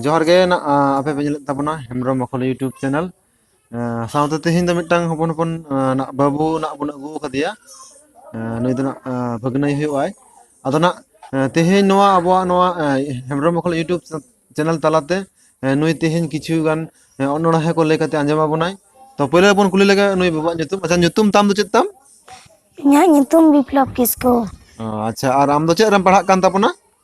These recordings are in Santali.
ᱡᱚᱦᱟᱨ ᱜᱮ ᱱᱟᱜ ᱟᱯᱮ ᱯᱮ ᱧᱮᱞᱮᱫ ᱛᱟᱵᱚᱱᱟ ᱦᱮᱢᱵᱨᱚᱢ ᱵᱟᱠᱷᱳᱞ ᱤᱭᱩᱴᱩᱵᱽ ᱪᱮᱱᱮᱞ ᱥᱟᱶᱛᱮ ᱛᱮᱦᱤᱧ ᱫᱚ ᱢᱤᱫᱴᱟᱝ ᱦᱚᱯᱚᱱ ᱦᱚᱯᱚᱱ ᱱᱟᱜ ᱵᱟᱹᱵᱩ ᱱᱟᱜ ᱵᱚᱱ ᱟᱹᱜᱩ ᱟᱠᱟᱫᱮᱭᱟ ᱱᱩᱭ ᱫᱚ ᱱᱟᱜ ᱵᱷᱟᱹᱜᱽᱱᱟᱹᱭ ᱦᱩᱭᱩᱜ ᱟᱭ ᱟᱫᱚ ᱱᱟᱜ ᱛᱮᱦᱮᱧ ᱱᱚᱣᱟ ᱟᱵᱚᱣᱟᱜ ᱱᱚᱣᱟ ᱦᱮᱢᱵᱨᱚᱢ ᱢᱚᱦᱚᱞ ᱤᱭᱩᱴᱩᱵᱽ ᱪᱮᱱᱮᱞ ᱛᱟᱞᱟᱛᱮ ᱱᱩᱭ ᱛᱮᱦᱮᱧ ᱠᱤᱪᱷᱩ ᱜᱟᱱ ᱚᱱᱚᱬᱦᱮᱸ ᱠᱚ ᱞᱟᱹᱭ ᱠᱟᱛᱮ ᱟᱸᱡᱚᱢ ᱟᱵᱚᱱᱟᱭ ᱛᱚ ᱯᱳᱭᱞᱳ ᱵᱚᱱ ᱠᱩᱞᱤ ᱞᱮᱜᱮ ᱱᱩᱭ ᱵᱟᱵᱩᱣᱟᱜ ᱧᱩᱛᱩᱢ ᱟᱪᱪᱷᱟ ᱧᱩᱛᱩᱢ ᱛᱟᱢ ᱫᱚ ᱪᱮᱫ ᱛᱟᱢ ᱤᱧᱟᱹᱜ ᱧᱩᱛᱩᱢ ᱵᱤᱯᱞᱚᱵ ᱠᱤᱥᱠᱩ ᱚ ᱟᱪᱪᱷᱟ ᱟᱨ ᱟᱢ ᱫᱚ ᱪᱮᱫ ᱨᱮᱢ ᱯᱟᱲᱦᱟᱜ ᱠᱟᱱ ᱛᱟᱵᱚᱱᱟ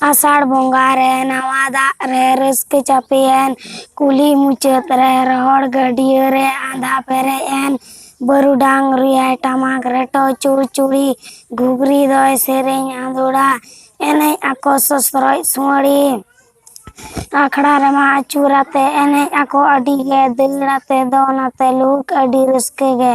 ᱟᱥᱟᱲ ᱵᱚᱸᱜᱟ ᱨᱮ ᱱᱟᱣᱟ ᱫᱟᱜ ᱨᱮ ᱨᱟᱹᱥᱠᱟᱹ ᱪᱟᱯᱮᱭᱮᱱ ᱠᱩᱞᱦᱤ ᱢᱩᱪᱟᱹᱫ ᱨᱮ ᱨᱚᱦᱚᱲ ᱜᱟᱹᱰᱭᱟᱹ ᱨᱮ ᱟᱸᱫᱷᱟ ᱯᱮᱨᱮᱡ ᱮᱱ ᱵᱟᱹᱨᱩᱰᱟᱝ ᱨᱩᱭᱟᱭ ᱴᱟᱢᱟᱠ ᱨᱮᱴᱚ ᱪᱩᱲᱪᱩᱲᱤ ᱜᱷᱩᱜᱽᱨᱤ ᱫᱚᱭ ᱥᱮᱨᱮᱧ ᱟᱸᱫᱳᱲᱟ ᱮᱱᱮᱡ ᱟᱠᱚ ᱥᱚᱥᱨᱚᱡ ᱥᱩᱣᱟᱹᱲᱤ ᱟᱠᱷᱲᱟ ᱨᱮᱢᱟ ᱟᱹᱪᱩᱨ ᱟᱛᱮ ᱮᱱᱮᱡ ᱟᱠᱚ ᱟᱹᱰᱤ ᱜᱮ ᱫᱟᱹᱲ ᱟᱛᱮ ᱫᱚᱱ ᱟᱛᱮ ᱞᱩᱦᱩᱠ ᱟᱹᱰᱤ ᱨᱟᱹᱥᱠᱟᱹ ᱜᱮ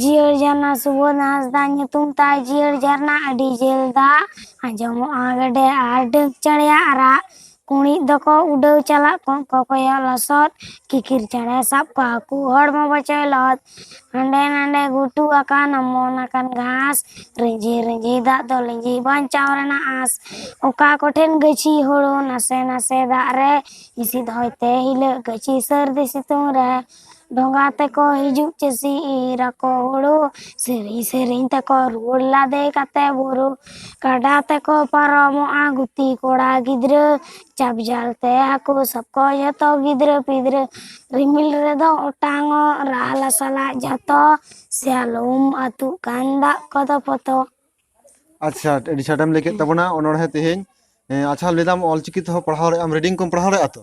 ᱡᱤᱭᱟᱹᱲ ᱡᱷᱟᱨᱱᱟ ᱥᱩᱵᱳᱫᱷ ᱦᱟᱸᱥᱫᱟ ᱧᱩᱛᱩᱢ ᱛᱟᱭ ᱡᱤᱭᱟᱹᱲ ᱡᱷᱟᱨᱱᱟ ᱟᱹᱰᱤ ᱡᱷᱟᱹᱞ ᱫᱟᱜ ᱟᱸᱡᱚᱢᱚᱜᱼᱟ ᱜᱮᱰᱮ ᱟᱨ ᱰᱟᱹᱠ ᱪᱮᱬᱮᱭᱟᱜ ᱨᱟᱜ ᱠᱩᱬᱤᱫ ᱫᱚᱠᱚ ᱩᱰᱟᱹᱣ ᱪᱟᱞᱟᱜ ᱠᱚᱸᱜ ᱠᱚ ᱠᱚᱭᱚᱜ ᱞᱚᱥᱚᱫ ᱠᱤᱠᱤᱨ ᱪᱮᱬᱮ ᱥᱟᱵ ᱠᱚ ᱦᱟᱹᱠᱩ ᱦᱚᱲᱢᱚ ᱵᱚᱪᱚᱭ ᱞᱚᱦᱚᱫ ᱦᱟᱸᱰᱮ ᱱᱟᱰᱮ ᱜᱷᱩᱴᱩ ᱟᱠᱟᱱ ᱚᱢᱚᱱ ᱟᱠᱟᱱ ᱜᱷᱟᱥ ᱨᱤᱸᱡᱷᱤ ᱨᱤᱸᱡᱷᱤ ᱫᱟᱜ ᱫᱚ ᱞᱤᱸᱡᱤ ᱵᱟᱧᱪᱟᱣ ᱨᱮᱱᱟᱜ ᱟᱸᱥ ᱚᱠᱟ ᱠᱚᱴᱷᱮᱱ ᱜᱟᱹᱪᱷᱤ ᱦᱳᱲᱳ ᱱᱟᱥᱮ ᱱᱟᱥᱮ ᱫᱟᱜ ᱨᱮ ᱦᱤᱥᱤᱫ ᱦᱚᱭᱛᱮ ᱦᱤᱞᱟᱹᱜ ᱜᱟᱹᱪᱷᱤ ᱥᱟᱹᱨᱫᱤ ᱥᱤᱛᱩᱝ ᱨᱮ ᱰᱷᱚᱸᱜᱟ ᱛᱮᱠᱚ ᱦᱤᱡᱩᱜ ᱪᱟᱹᱥᱤ ᱤᱨ ᱟᱠᱚ ᱦᱩᱲᱩ ᱥᱮᱨᱮᱧ ᱥᱮᱨᱮᱧ ᱛᱮᱠᱚ ᱨᱩᱣᱟᱹᱲ ᱞᱟᱫᱮ ᱠᱟᱛᱮ ᱵᱩᱨᱩ ᱠᱟᱰᱟ ᱛᱮᱠᱚ ᱯᱟᱨᱚᱢᱚᱜᱼᱟ ᱜᱩᱛᱤ ᱠᱚᱲᱟ ᱜᱤᱫᱽᱨᱟᱹ ᱪᱟᱯ ᱡᱟᱞ ᱛᱮ ᱦᱟᱹᱠᱩ ᱥᱟᱵ ᱠᱚ ᱡᱚᱛᱚ ᱜᱤᱫᱽᱨᱟᱹ ᱯᱤᱫᱽᱨᱟᱹ ᱨᱤᱢᱤᱞ ᱨᱮᱫᱚ ᱚᱴᱟᱝᱚᱜ ᱨᱟᱦᱞᱟ ᱥᱟᱞᱟᱜ ᱡᱷᱚᱛᱚ ᱥᱮᱭᱟᱞᱚᱢ ᱟᱹᱛᱩᱜ ᱠᱟᱱ ᱫᱟᱜ ᱠᱚᱫᱚ ᱯᱚᱛᱚᱜ ᱟᱪᱪᱷᱟ ᱟᱹᱰᱤ ᱪᱮᱦᱨᱟᱢ ᱞᱟᱹᱭ ᱠᱮᱫ ᱛᱟᱵᱚᱱᱟ ᱚᱱᱚᱬᱦᱮᱸ ᱛᱮᱦᱮᱧ ᱟᱪᱪᱷᱟ ᱞᱟᱹᱭ ᱫᱟᱢ ᱚᱞᱪᱤᱠᱤ ᱛᱮᱦᱚᱸ ᱯᱟᱲᱦᱟᱣ ᱨᱮᱭᱟᱜ ᱨᱤᱰᱤᱝ ᱠᱚᱢ ᱯᱟᱲᱦᱟᱣ ᱫᱟᱲᱮᱭᱟᱜᱼᱟ ᱛᱚ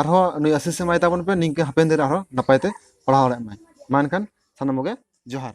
ᱟᱨᱦᱚᱸ ᱱᱩᱭ ᱟᱥᱤᱥ ᱮᱢᱟᱭ ᱛᱟᱵᱚᱱ ᱯᱮ ᱱᱤᱝᱠᱟᱹ ᱦᱟᱯᱮᱱ ᱫᱤᱱ ᱨᱮ ᱟᱨᱦᱚᱸ ᱱᱟᱯᱟᱭ ᱛᱮ ᱯᱟᱲᱦᱟᱣ ᱫᱟᱲᱮᱭᱟᱜ ᱢᱟᱭ ᱢᱟ ᱮᱱᱠᱷᱟᱱ ᱥᱟᱱᱟᱢ ᱠᱚᱜᱮ ᱡᱚᱦᱟᱨ